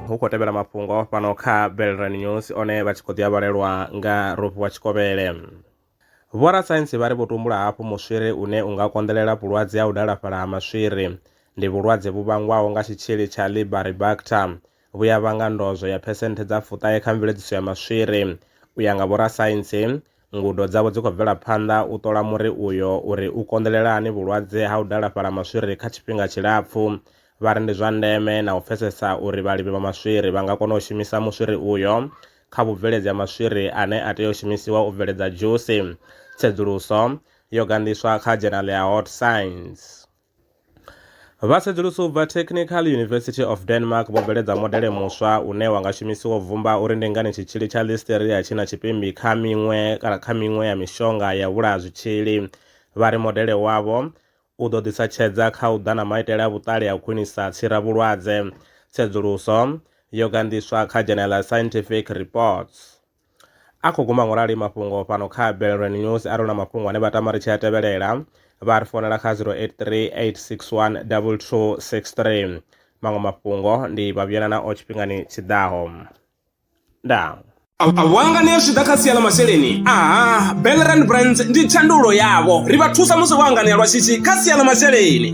hu khou tevhela mafhungo fhano kha belran news one vha tshi khou ḓi a vhalelwa nga rofhi wa tshikovhele vhorasaintsi vha ri vho tumbula hafhu muswiri une u nga konḓelela vhulwadze ha u dalafhala ha maswiri ndi vhulwadze vhu vhangwaho nga tshitshili tsha libaribacter vhu ya vhanga ndozwo ya phesenthe dza fuṱahe kha mveledziso ya maswiri. U ya nga vhorasaintsi, ngudo dzavho dzi khou bvela phanḓa u ṱola muri uyo uri u konḓelela hani vhulwadze ha u dalafhala maswiri kha tshifhinga tshilapfu. Vha ri ndi zwa ndeme na u pfesesa uri vhalimi vha maswiri vha nga kona u shumisa muswiri uyo kha vhubveledzi ha maswiri ane a tea u shumisiwa u bveledza dzhusi. Tsedzuluso yo ganḓiswa kha dzhenale ya Hot Science. Vhasedzulusi u bva Technical University of Denmark vho bveledza modele muswa une wa nga shumisiwa u bvumba uri ndi ngani tshitzhili tsha Listeria tshi na tshipimbi kha miṅwe kana kha miṅwe ya mishonga ya vhulaha zwitzhili. Vha ri modele wavho u ḓo ḓisa tshedza kha u ḓa na maitele a vhuṱali a u khwinisa tsiravhulwadze. Tsedzuluso yo ganḓiswa kha Journal Scientific Reports. A khou guma ngorali mafhungo fhano kha Belrand News a ri hu na mafhungo ane vha tama ri tshi a tevhelela vha ri founela kha 0838612263. Maṅwe mafhungo ndi Vhavhuyelana o tshifhingani tshi ḓaho. Ndaa. A vho hanganea zwi tshi ḓa kha sia ḽa masheleni? Aha, Belrand Brands ndi tshandulo yavho. Ri vha thusa musi vho hanganea lwa shishi kha sia ḽa masheleni.